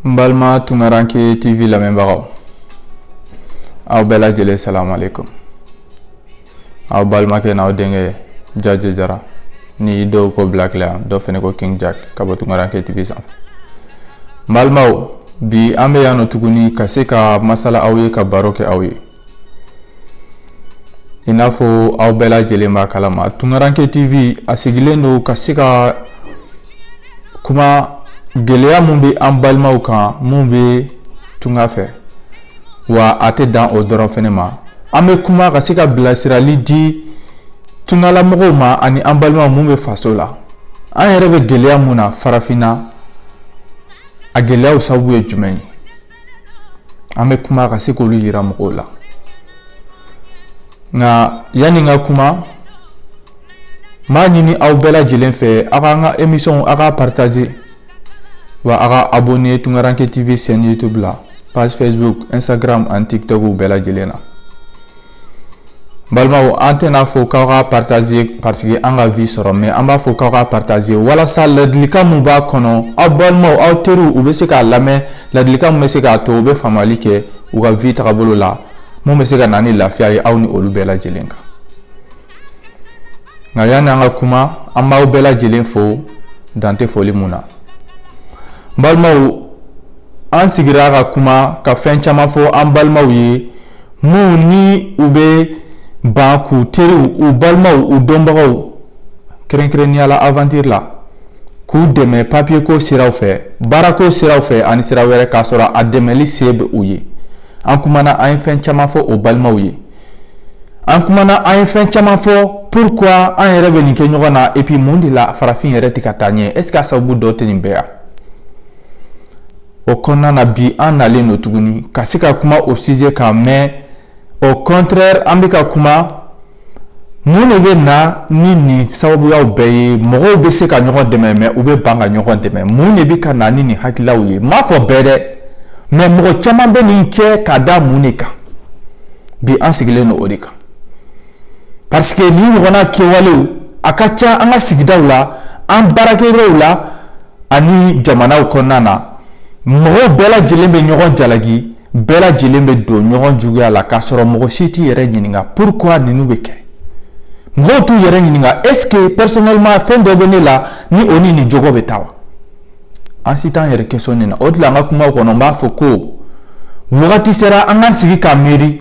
N balima tunkaranke TV lamɛnbagaw aw bɛɛ lajɛlen salamalekum aw balimakɛ n'aw denkɛ jaje jara ni dɔw ko black la dɔw fana ko king jack ka bɔ tunkaranke tv sanfɛ n balimaw bi an bɛ yan nɔ tuguni ka se ka masala aw ye ka baro kɛ aw ye i n'a fɔ aw bɛɛ lajɛlen b'a kalama tunkaranke tv a sigilen don ka se ka kuma gɛlɛya mun bɛ an balimaw kan mun bɛ tunga fɛ wa a tɛ dan o dɔrɔn fana ma an bɛ kuma ka se ka bilasirali di tungalamɔgɔw ma ani an balimaw mun bɛ faso la an yɛrɛ bɛ gɛlɛya mun na farafinna a gɛlɛyaw sababu ye jumɛn ye an bɛ kuma ka se k'olu yira mɔgɔw la nka yanni n ka kuma n b'a ɲini aw bɛɛ lajɛlen fɛ aw k'an ka emisɔnw aw k'a partager wa aw ka abonner tungaranke tv chaîne youtube la page facebook instagram ani tiktok bɛɛ lajɛlen na balimaw an tɛna fɔ k'aw ka partager parce que an ka vue sɔrɔ mais an b'a fɔ k'aw ka partager walasa ladilikan min b'a kɔnɔ aw balimaw aw teriw u bɛ se k'a lamɛn ladilikan min bɛ se k'a to u bɛ faamuyali kɛ u ka vie tagabolo la mun bɛ se ka na ni lafiya ye aw ni olu bɛɛ lajɛlen kan nka yanni an ka kuma an b'aw bɛɛ lajɛlen fo dan tɛ foli mun na n balimaw an sigira ka kuma ka fɛn caman fɔ an balimaw ye minnu ni u bɛ ban k'u teriw u balimaw u dɔnbagaw kɛrɛnkɛrɛnnenya la aventure la k'u dɛmɛ papiyeko siraw fɛ baarako siraw fɛ ani sira wɛrɛ k'a sɔrɔ a dɛmɛli se bɛ u ye an kumana an ye fɛn caman fɔ o balimaw ye an kumana an ye fɛn caman fɔ pourquoi an yɛrɛ bɛ nin kɛ ɲɔgɔn na et puis mun de la farafin yɛrɛ tɛ ka taa ɲɛ est ce qu'a sababu dɔ tɛ nin bɛɛ ye wa o kɔnɔna na bi an nalen don tuguni ka se ka kuma o sujet kan mais au contraire an bɛ ka kuma mun de bɛ na ni nin sababuyaw bɛɛ ye mɔgɔw bɛ se ka ɲɔgɔn dɛmɛ mais u bɛ ban ka ɲɔgɔn dɛmɛ mun de bɛ ka na ni nin hakililaw ye n m'a fɔ bɛɛ dɛ mais mɔgɔ caman bɛ nin kɛ ka da mun de kan bi an sigilen don o de kan parce que nin ɲɔgɔnna kɛwale a ka ca an ka sigidaw la an baarakɛyɔrɔw la ani jamanaw kɔnɔna na mɔgɔw bɛɛ lajɛlen bɛ ɲɔgɔn jalaki bɛɛ lajɛlen bɛ don ɲɔgɔn juguya la k'a sɔrɔ mɔgɔ si t'i yɛrɛ ɲininka pourquoi ninnu bɛ kɛ mɔgɔw t'u yɛrɛ ɲininka est ce que personnellement fɛn dɔ bɛ ne la ni o ni nin jogo bɛ taa wa an si t'an yɛrɛ kesɔni na o de la n ka kuma kɔnɔ n b'a fɔ ko wagati sera an k'an sigi ka miiri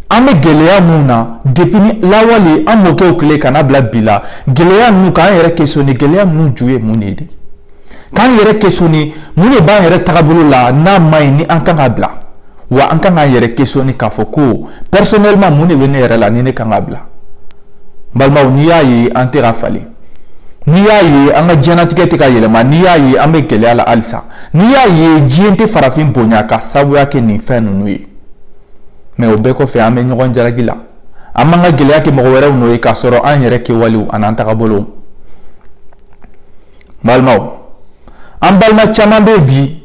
an bɛ gɛlɛya min na depuis ni lawale an mɔkɛw tile ka na bila bi la gɛlɛya ninnu k'an yɛrɛ kesɔni gɛlɛya ninnu ju ye mun de ye k'an yɛrɛ kesɔni mun de b'an yɛrɛ tagabolo la n'a man ɲi ni an kan ka bila wa an kan k'an yɛrɛ kesɔni k'a fɔ ko pɛrisɔnɛlima mun de bɛ ne yɛrɛ la ni ne kan ka bila balimaw n'i y'a ye an tɛ ka falen n'i y'a ye an ka diɲɛnatigɛ tɛ ka yɛlɛma n'i y'a ye an bɛ gɛlɛya la halisa n'i y'a ye diɲɛ tɛ farafin bonya k'a sabuya kɛ nin fɛn ninnu ye mɛ o bɛɛ kɔfɛ an bɛ ɲɔgɔn jalaki la an b'an ka gɛlɛya kɛ mɔgɔ wɛrɛw nɔ ye k'a sɔrɔ an yɛrɛ kɛwalew an'an tagabolow balimaw an balima caman bɛ bi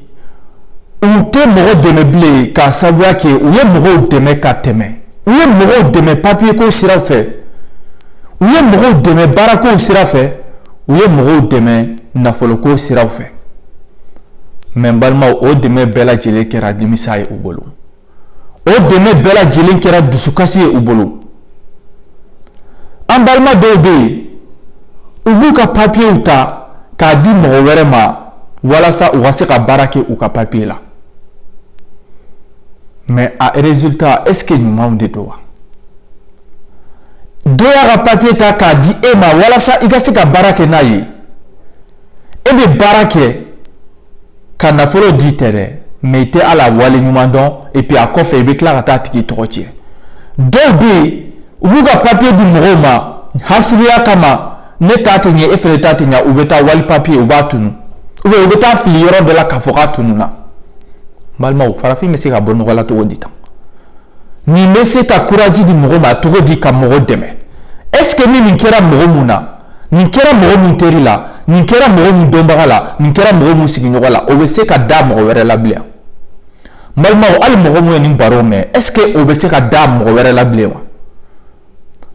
u tɛ mɔgɔ dɛmɛ bilen k'a sababuya kɛ u ye mɔgɔw dɛmɛ ka tɛmɛ u ye mɔgɔw dɛmɛ papiyeko siraw fɛ u ye mɔgɔw dɛmɛ baarakow sira fɛ u ye mɔgɔw dɛmɛ nafoloko siraw fɛ mɛ balimaw o dɛmɛ bɛɛ lajɛlen kɛra nimisa ye u bolo o dɛmɛ bɛɛ lajɛlen kɛra dusukasi ye u bolo an balima dɔw bɛ yen u b'u ka papiyew ta k'a di mɔgɔ wɛrɛ ma walasa u ka se ka baara kɛ u ka papiye la mɛ a rezulta ɛseke ɲumanw de don wa dɔ y'a ka papiye ta k'a di e ma walasa i ka se ka baara kɛ n'a ye e bɛ baara kɛ ka nafolo di tɛ dɛ mɛ i tɛ a la wale ɲuman dɔn epi a kɔfɛ i bɛ tila ka taa tigi tɔgɔ cɛn dɔw bɛ yen u b'u ka papiye di mɔgɔw ma hasidiya kama ne ta tɛ ɲɛ e fana ta tɛ ɲɛ u bɛ taa wali papiye u b'a tunun u u bɛ t'a fili yɔrɔ dɔ la k'a fɔ k'a tununna balimaw farafin bɛ se ka bɔ nɔgɔ la cogo di tan nin bɛ se ka kuraji di mɔgɔ ma cogo di ka mɔgɔ dɛmɛ ɛsseke ni nin kɛra mɔgɔ min na nin kɛra mɔgɔ min teri la nin kɛra mɔgɔ min dɔnbaga la nin kɛra mɔgɔ min sigiɲɔgɔn la o bɛ se ka da mɔgɔ wɛrɛ la bilen balimaw hali mɔgɔ min ye nin baro mɛn est ce que o bɛ se ka da mɔgɔ wɛrɛ la bilen wa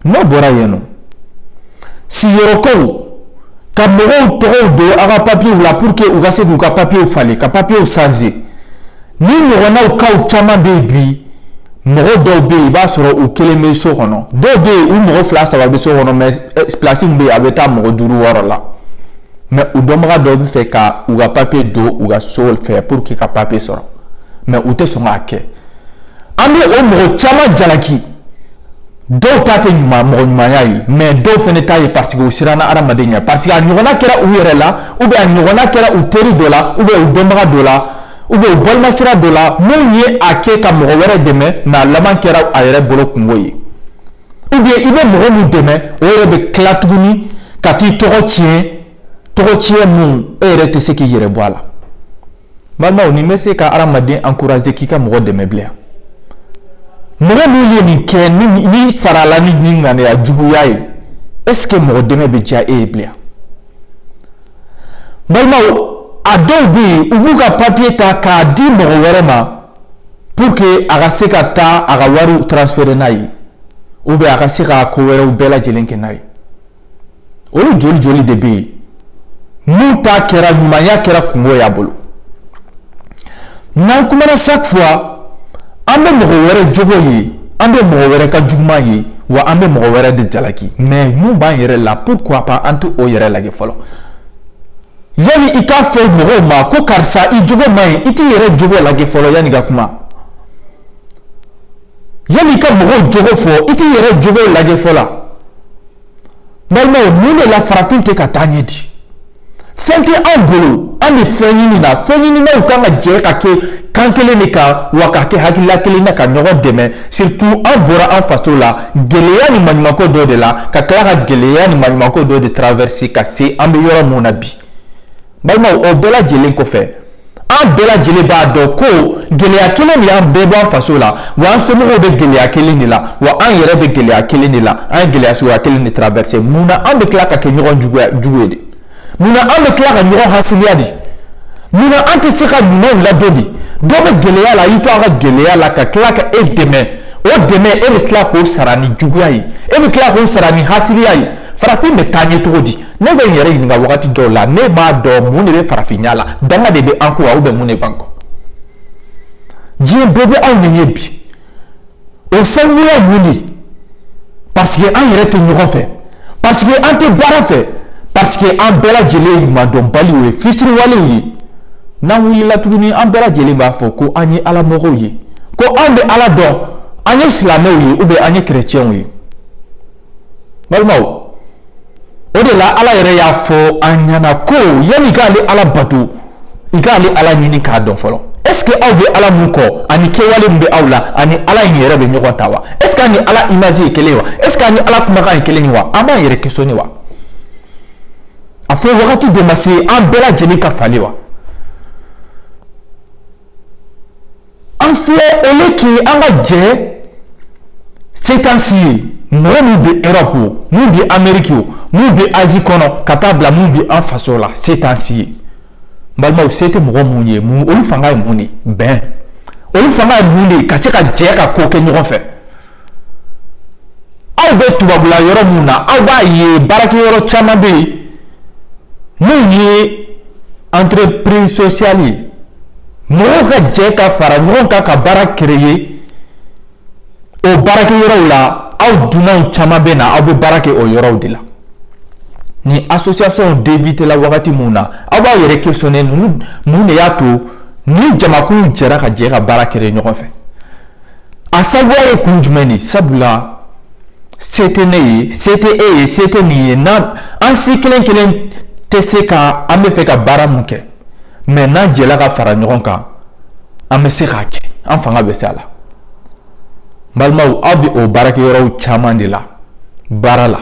n'o bɔra yen nin sigiyɔrɔkow ka mɔgɔw tɔgɔw don aw ka papiyew la pour que u ka se k'u ka papiyew falen ka papiyew sanze nin ɲɔgɔnnaw kaw caman bɛ yen bi mɔgɔ dɔw bɛ yen i b'a sɔrɔ u kelen bɛ so kɔnɔ dɔw bɛ yen u mɔgɔ fila saba bɛ so kɔnɔ mɛ eh, pilasi bɛ yen a bɛ taa mɔgɔ duuru wɔɔrɔ la mɛ u dɔnbaga dɔw b'a fɛ ka u ka papiye don u ka so fɛ pour que ka papiye sɔrɔ mɛ u tɛ sɔn k'a kɛ an bɛ o mɔgɔ caman jalaki dɔw ta tɛ ɲuman mɔgɔ ɲumanya ye mɛ dɔw fana ta ye parce que u siranna hadamaden ɲɛ parce que a ɲɔgɔnna kɛra u yɛrɛ la ou bien a ɲɔgɔnna kɛra u teri dɔ la ou bien u dɔnbaga dɔ la u bɛ balima sira de la minnu ye a kɛ ka mɔgɔ wɛrɛ dɛmɛ n'a laban kɛra a yɛrɛ bolo kunko ye ou bien i bɛ mɔgɔ min dɛmɛ o yɛrɛ bɛ tila tuguni ka t'i tɔgɔ tiɲɛ tɔgɔ tiɲɛ minnu e yɛrɛ tɛ se k'i yɛrɛ bɔ a la balimaw nin bɛ se ka hadamaden encourager k'i ka mɔgɔ dɛmɛ bilen mɔgɔ min ye nin kɛ ni nin sarala ni nin ŋaniya juguya ye est-ce que mɔgɔ dɛmɛ bɛ diya e ye bilen balimaw a dɔw bɛ yen u b'u ka papiye ta k'a di mɔgɔ wɛrɛ ma pour que a ka se ka taa a ka wariw transférer n'a ye ou bien a ka se ka ko wɛrɛw bɛɛ lajɛlen kɛ n'a ye olu joli joli de bɛ yen n'u ta kɛra ɲumanya kɛra kunko y'a bolo n'an kumana chaque fois an bɛ mɔgɔ wɛrɛ jogo ye an bɛ mɔgɔ wɛrɛ ka juguman ye wa an bɛ mɔgɔ wɛrɛ de jalaki mais min b'an yɛrɛ la pourquoi pas an tɛ o yɛrɛ lajɛ fɔlɔ yanni i k'a fɔ mɔgɔw ma ko karisa i jogo man ɲi i t'i yɛrɛ jogo lajɛ fɔlɔ yanni ka kuma yanni i ka mɔgɔw jogo fɔ i t'i yɛrɛ jogo lajɛ fɔlɔ balimaw mun de la farafin tɛ ka taa ɲɛ di fɛn tɛ anw bolo an bɛ fɛn ɲini na fɛnɲininaw kan ka jɛ ka kɛ kan kelen de kan wa ka kɛ hakilila kelen na ka ɲɔgɔn dɛmɛ surtout an bɔra an faso la gɛlɛya ni maɲumanko dɔ de la ka tila ka gɛlɛya ni maɲumanko dɔ de traverser ka se an bɛ yɔrɔ min na bi balimaw o bɛɛ lajɛlen kɔfɛ an bɛɛ lajɛlen b'a dɔn ko gɛlɛya kelen de y'an bɛɛ bɔ an faso la wa an somɔgɔw bɛ gɛlɛya kelen de la wa an yɛrɛ bɛ gɛlɛya kelen de la an ye gɛlɛya suguya kelen de traverser mun na an bɛ tila ka kɛ ɲɔgɔn juguya jugu ye de mun na an bɛ tila ka ɲɔgɔn hasidiya de mun na an tɛ se ka ɲumanw ladon de dɔ bɛ gɛlɛya la y'i to a ka gɛlɛya la ka tila ka e dɛmɛ o dɛmɛ e bɛ tila k'o sara ni juguya ye e bɛ tila k'o sara ni hasidiya ye farafin bɛ taa ɲɛ cogo di ne bɛ n yɛrɛ ɲininka wagati dɔw la ne t'a dɔn mun de bɛ farafinya la danga de bɛ an kɔ wa ou bien mun de b'an kɔ diɲɛ bɛɛ bɛ anw ɲɛ bi o sabu ye mun de parce que an yɛrɛ tɛ ɲɔgɔn fɛ parce que an tɛ baara fɛ parce que an bɛɛ lajɛlen ye ɲumandɔnbaliw ye fitiriwalew ye n'an wulila tuguni an bɛɛ lajɛlen b'a fɔ ko an ye ala mɔgɔw ye ko anw bɛ ala dɔn an ye silamɛw ye ou bien an ye kerecɛnw ye balimaw o de la ala yɛrɛ y'a fɔ an ɲɛna ko yanni i k'ale ala bato i k'ale ala ɲini k'a dɔn fɔlɔ est-ce que aw bɛ ala min kɔ ani kɛwale min bɛ aw la a ni ala in yɛrɛ bɛ ɲɔgɔn ta wa est-ce que ani ala image ye kelen ye wa est-ce que ani ala kumakan ye kelen ye wa an b'an yɛrɛ questionner wa a fɔ wagati de ma se an bɛɛ lajɛlen ka falen wa an filɛ o ne tun ye an ka jɛ setansi ye mɔgɔ min bɛ erɔpu min bɛ ameriki o min bɛ azi kɔnɔ ka taa bila min bɛ an faso la setansi ye balimaw se tɛ mɔgɔ minnu ye olu fanga ye mun de bɛn olu fanga ye mun de ye ka se ka jɛ ka ko kɛ ɲɔgɔn fɛ aw bɛ tubabula yɔrɔ min na aw b'a ye baarakɛ yɔrɔ caman bɛ yen minnu ye entreprise sociale ye mɔgɔw ka jɛ ka fara ɲɔgɔn kan ka baara créer o baarakɛ yɔrɔw la aw dunanw caman bɛ na aw bɛ baara kɛ o yɔrɔw de la ni association débutéla wagati min na aw b'aw yɛrɛ questionner mun de y'a to ni jamakulu jɛra ka jɛ ka baara créer ɲɔgɔn fɛ A sabu ye kun jumɛn de sabula se tɛ ne ye se tɛ e ye se tɛ nin ye n an si kelen kelen tɛ se ka an bɛ fɛ ka baara min kɛ mɛ n'an jɛla ka fara ɲɔgɔn kan an bɛ se k'a kɛ an fanga bɛ se a la balimaw aw bɛ o baara kɛ yɔrɔw caman de la baara la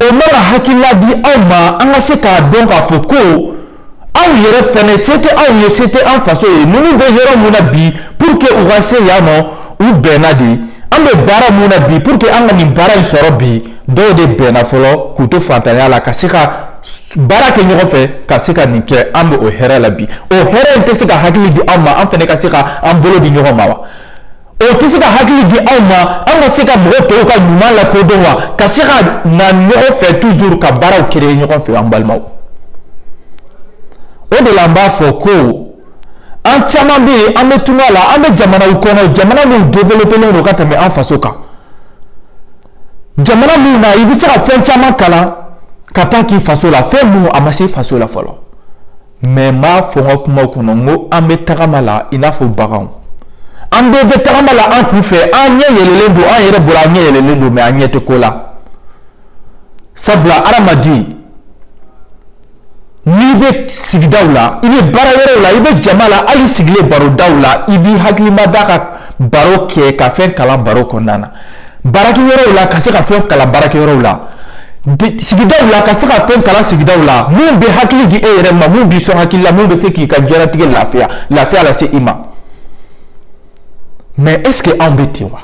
o man ka hakilila di aw ma an ka se k'a dɔn k'a fɔ ko aw yɛrɛ fana se tɛ aw ye se tɛ an faso ye ninnu bɛ yɔrɔ min na bi pour que u ka se yan nɔ u bɛnna de an bɛ baara min na bi pour que an ka nin baara in sɔrɔ bi dɔw de bɛnna fɔlɔ k'u to fantanya la ka se ka baara kɛ ɲɔgɔn fɛ ka se ka nin kɛ an bɛ o hɛrɛ la bi o hɛrɛ in tɛ se ka hakili di an ma an fana ka se ka an bolo di ɲɔgɔn ma wa o tɛ se ka hakili di aw ma an ka se ka mɔgɔ tɔw ka ɲuman la ko dɔn wa ka se ka na ɲɔgɔn fɛ toujours ka baaraw créer ɲɔgɔn fɛ an balimaw o de la an b'a fɔ ko an caman bɛ yen an bɛ tunga la an bɛ jamanaw kɔnɔ jamana min développélen don ka tɛmɛ an faso kan jamana min na i bɛ se ka fɛn caman kalan ka taa k'i faso la fɛn minnu a ma se i faso la fɔlɔ mɛ n b'a fɔ n ka kuma kɔnɔ n ko an bɛ tagama la i n'a fɔ baganw an bɛɛ bɛ tagama la an kun fɛ an ɲɛ yɛlɛlen don an yɛrɛ bolo an ɲɛ yɛlɛlen don mɛ an ɲɛ tɛ ko la sabula adamaden n'i bɛ sigidaw la i bɛ baara yɔrɔw la i bɛ jama la hali i sigilen barodaw la i b'i hakili mada ka baro kɛ ka fɛn kalan baro kɔnɔna na Baarakɛ yɔrɔw la ka se ka fɛn kalan baara yɔrɔ la sigida la ka se ka fɛn kalan sigida la minnu bɛ hakili di e yɛrɛ ma min bɛ sɔn hakili la bɛ se k'i ka diɲɛlatigɛ lafiya lafiya lase se i ma mɛ eseke anw bɛ ten wa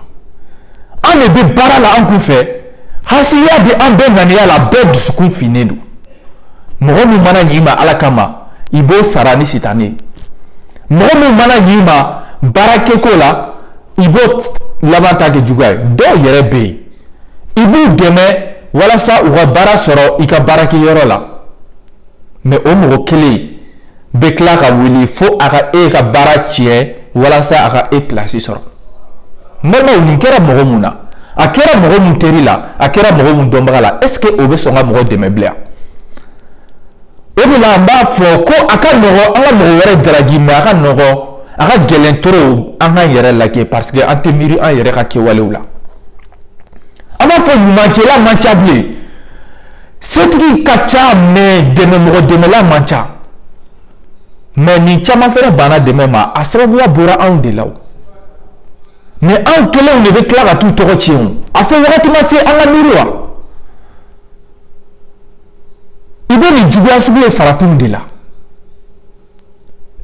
an de bɛ baara la an kun fɛ haya bɛ an bɛɛ ŋaniya la bɛɛ dusukun finnen don mɔgɔ min mana ɲ'i ma ala kama i b'o sara ni sitanɛ mɔgɔ min mana ɲ'i ma baara keko la i b'o laban ta kɛ juguya ye dɔw yɛrɛ bɛ yen i b'u dɛmɛ walasa u ka baara sɔrɔ i ka baarakɛyɔrɔ la mɛ o mɔgɔ kelen bɛ tila ka wuli fo a ka e ka baara tiɲɛ walasa a ka e pilasi sɔrɔ n balimaw nin kɛra mɔgɔ min na a kɛra mɔgɔ min teri la a kɛra mɔgɔ min dɔnbaga la est ce que o bɛ sɔn ka mɔgɔ dɛmɛ bilen o de la an b'a fɔ ko a ka nɔgɔ an ka mɔgɔ wɛrɛ jalaki mɛ a ka nɔgɔ a ka gɛlɛn trop an k'an yɛrɛ lajɛ parce que an tɛ miiri an yɛrɛ ka kɛwalew la an b'a fɔ ɲumankɛla man ca bilen setigi ka ca mɛ dɛmɛ mɔgɔ dɛmɛla man ca mɛ ni caman fɛnɛ banna dɛmɛ ma a sababuya bɔra anw de la o mɛ anw kelenw de bɛ tila ka t'u tɔgɔ tiɲɛ o a fɔ wagati ma se an ka miiri wa i bɛ nin juguya sugu ye farafinw de la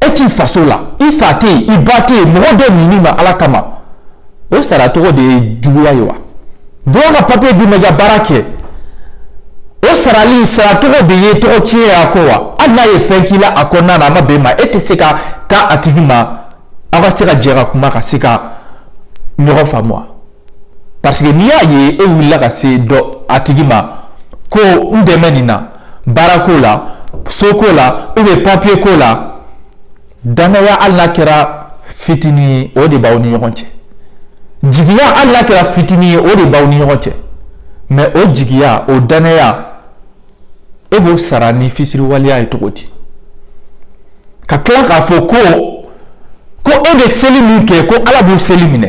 e t'i faso la i fa tɛ yen i ba tɛ yen mɔgɔ dɔ ɲin'i ma ala kama o sara tɔgɔ de ye juguya ye wa dɔw ka papiye d'i ma i ka baara kɛ o sarali sara tɔgɔ de ye tɔgɔ tiɲɛ ye a ko wa hali n'a ye fɛn k'i la a kɔnɔna na a ma bɛn i ma e tɛ se ka taa a tigi ma aw ka se ka jɛ ka kuma ka se ka ɲɔgɔn faamu wa parce que n'i y'a ye e wulila ka se dɔ a tigi ma ko n dɛmɛ nin na baara ko la so ko la ou bien papier ko la danaya hali n'a kɛra fitinin ye o de b'aw ni ɲɔgɔn cɛ jigiya hali n'a kɛra fitinin ye o de b'aw ni ɲɔgɔn cɛ mais o jigiya o danaya e b'o sara ni fitiriwaleya ye cogo di ka tila k'a fɔ ko ko e bɛ seli min kɛ ko ala b'o seli minɛ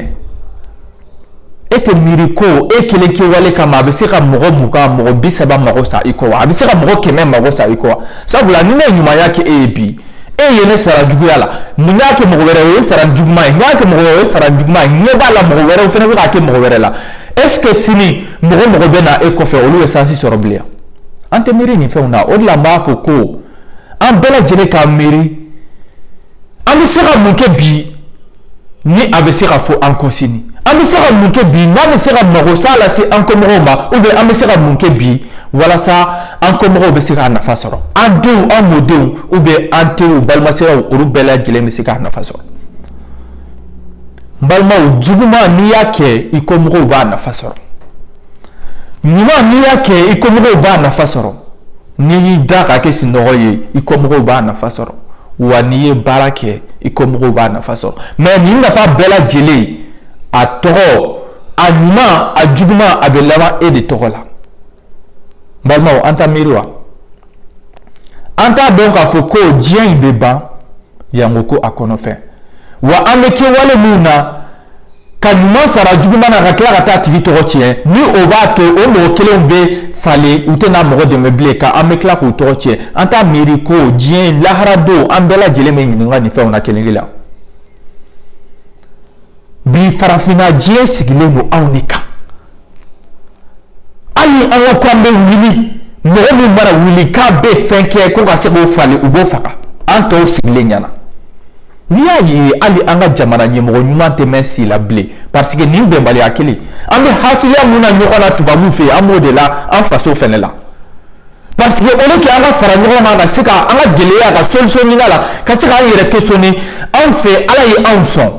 e tɛ miiri ko e kelen kɛwale kama a bɛ se ka mɔgɔ mugan mɔgɔ bi saba mago sa i kɔ wa a bɛ se ka mɔgɔ kɛmɛ mago sa i kɔ wa sabula ni ne ye ɲumanya kɛ e ye bi e ye ne sara juguya la mun y'a kɛ mɔgɔ wɛrɛ o ye sara juguman ye n y'a kɛ mɔgɔ wɛrɛ o ye sara juguman ye ɲɛ b'a la mɔgɔ wɛrɛw fana bɛ k'a kɛ mɔgɔ wɛrɛ la est ce que sini mɔgɔ mɔgɔ bɛ na e kɔfɛ olu bɛ sansi sɔrɔ bilen an tɛ miiri nin fɛnw na o de la n b'a fɔ ko an bɛɛ lajɛlen ka miiri an bɛ se ka mun kɛ bi ni a bɛ se ka fɔ an kɔ sini an bɛ se ka mun kɛ bi n'a bɛ se ka mago sa lase an kɔmɔgɔw ma ou bien an bɛ se ka mun kɛ bi walasa an kɔmɔgɔw bɛ se k'a nafa sɔrɔ an denw an mɔdenw ou bien an teriw balimasiraw olu bɛɛ lajɛlen bɛ se k'a nafa sɔrɔ n balimaw juguman n'i y'a kɛ i kɔmɔgɔw b'a nafa sɔrɔ ɲuman n'i y'a kɛ i kɔmɔgɔw b'a nafa sɔrɔ n'i y'i da k'a kɛ sinɔgɔ ye i kɔmɔgɔw b'a nafa sɔrɔ wa n'i ye baara kɛ i kɔmɔgɔw b'a nafa sɔrɔ mɛ nin nafa bɛɛ lajɛlen a tɔgɔ a ɲuman a juguman a bɛ laban e de tɔgɔ la balimaw an t'a miiri wa an t'a dɔn k'a fɔ ko diɲɛ in bɛ ban yanko ko a kɔnɔfɛn wa an bɛ kɛwale min na ka ɲuman sara juguman na ka tila ka t'a tigi tɔgɔ tiɲɛ ni o b'a to o mɔgɔ kelenw bɛ falen u tɛna mɔgɔ dɛmɛ bilen ka an bɛ tila k'u tɔgɔ tiɲɛ an t'a miiri ko diɲɛ in lahara don an bɛɛ lajɛlen bɛ ɲininka nin fɛnw na kelen kelen bi farafinna diɲɛ sigilen don anw de kan hali ni an ka ko an bɛ wuli mɔgɔ min mana wuli k'a bɛ fɛn kɛ ko ka se k'o falen u b'o faga an tɔw sigilen ɲɛna n'i y'a ye hali an ka jamana ɲɛmɔgɔ ɲuman tɛ mɛɛn si la bilen parce que nin bɛnbaliya kelen an bɛ hasidiya mun na ɲɔgɔn na tubabuw fɛ yen an b'o de la an faso fɛnɛ la parce que au lieu que an ka fara ɲɔgɔn kan ka se ka an ka gɛlɛya ka solution ɲini a la ka se k'an yɛrɛ questionner anw fɛ ala ye anw sɔn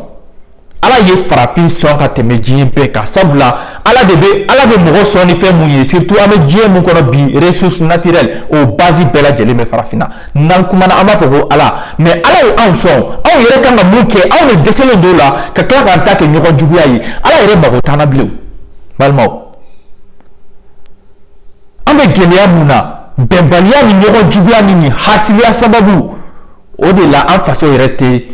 ala ye farafin sɔn ka tɛmɛ diɲɛ bɛɛ kan sabula ala de bɛ ala bɛ mɔgɔ sɔn ni fɛn mun ye surtout an bɛ diɲɛ mun kɔnɔ bi ressource naturelle o base bɛɛ lajɛlen bɛ farafinna n'an kumana an b'a fɔ ko ala mais ala ye anw sɔn anw yɛrɛ kan ka mun kɛ anw de dɛsɛlen don o la ka tila k'an ta kɛ ɲɔgɔn juguya ye ala yɛrɛ mago t'an na bilen balimaw an bɛ gɛlɛya mun na bɛnbaliya ni ɲɔgɔn juguya ni nin hasidiya sababu o de la an faso yɛrɛ tɛ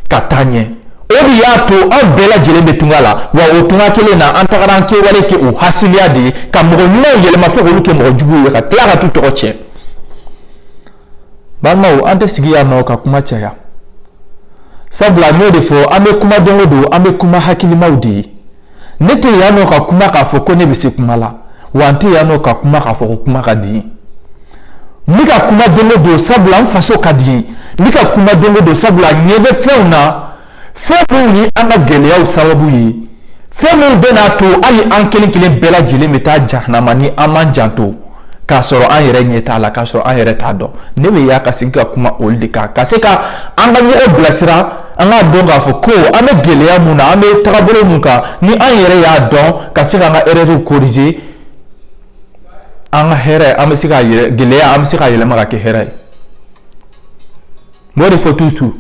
ka taa ɲɛ o de y'a to an bɛɛ lajɛlen bɛ tunga la wa o tunga kelen na an tagara an kɛwale kɛ o hasidiya de ye ka mɔgɔ ɲumanw yɛlɛma fo k'olu kɛ mɔgɔ juguw ye ka tila ka t'u tɔgɔ tiɲɛ balimaw an tɛ sigi yan nɔ ka kuma caya sabula n y'o de fɔ an bɛ kuma don o don an bɛ kuma hakilimaw de ye ne tɛ yan nɔ ka kuma k'a fɔ ko ne bɛ se kuma la wa n tɛ yan nɔ ka kuma k'a fɔ ko kuma ka di n ye n bɛ ka kuma don o don sabula n faso ka di n ye n bɛ ka kuma don o don sabula n ɲɛ bɛ fɛnw na fɛn minnu ye an ka gɛlɛyaw sababu ye fɛn minnu bɛn'a to hali an kelen kelen bɛɛ lajɛlen bɛ taa jahanama ni an man janto k'a sɔrɔ an yɛrɛ ɲɛ t'a la k'a sɔrɔ an yɛrɛ t'a dɔn ne bɛ yan ka sigi ka kuma olu de kan ka se ka an ka ɲɔgɔn bilasira an k'a dɔn k'a fɔ ko an bɛ gɛlɛya mun na an bɛ tagabolo mun kan ni an yɛrɛ y'a dɔn ka se k'an ka erɛriw korije an ka hɛrɛ an ka gɛlɛya an bɛ se k'a yɛlɛma ka kɛ hɛrɛ ye N b'o de fɔ toujours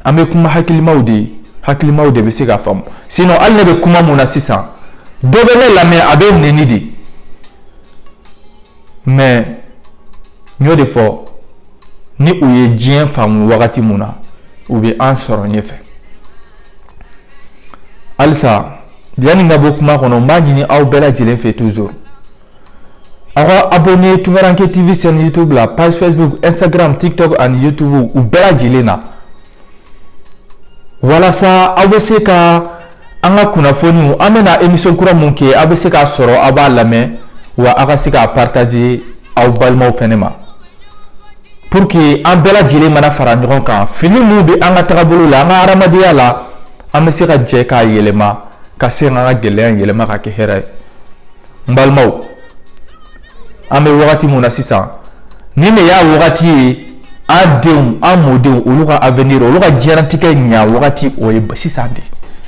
an bɛ kuma hakilimaw de ye hakilimaw de bɛ se k'a faamu sinon ale ne bɛ kuma mun na sisan dɔ bɛ ne lamɛn a bɛ n neni dɛ mais n y'o de fɔ ni u ye diɲɛ faamu wagati min na u bɛ an sɔrɔ ɲɛfɛ halisa yanni n ka bɔ kuma kɔnɔ n b'a ɲini aw bɛɛ lajɛlen fɛ toujours aw ka abonné Tunkaranke TV chaîne YouTube la page Facebook Instagram TikTok ani YouTube u bɛɛ lajɛlen na walasa aw bɛ se ka an ka kunnafoniw an bɛna émission kura mun kɛ aw bɛ se k'a sɔrɔ aw b'a lamɛn wa aw ka se k'a partager aw balimaw fɛnɛ ma pour que an bɛɛ lajɛlen mana fara ɲɔgɔn kan fiɲɛ minnu bɛ an ka tagabolo la an ka hadamadenya la an bɛ se ka jɛ k'a yɛlɛma ka se ka an ka gɛlɛya in yɛlɛma ka kɛ hɛrɛ ye n balimaw an bɛ wagati mun na sisan nin de y'a wagati ye an denw an mɔdenw olu ka avenir olu ka diɲɛnatigɛ ɲa wagati o ye sisan de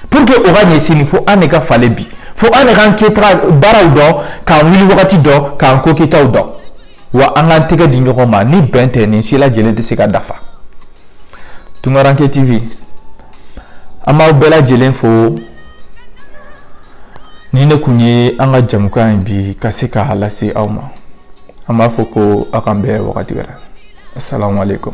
pour que o ka ɲɛ sini fo an de ka falen bi fo an de k'an kɛta baaraw dɔn k'an wuli wagati dɔn k'an ko kɛtaw dɔn wa an k'an tɛgɛ di ɲɔgɔn ma ni bɛn tɛ nin si lajɛlen tɛ se ka dafa tunkaranke tv an b'aw bɛɛ lajɛlen fo nin de kun ye an ka jɛmukan ye bi ka se k'a lase aw ma an b'a fɔ ko aw k'an bɛn wagati wɛrɛ asalaamaaleykum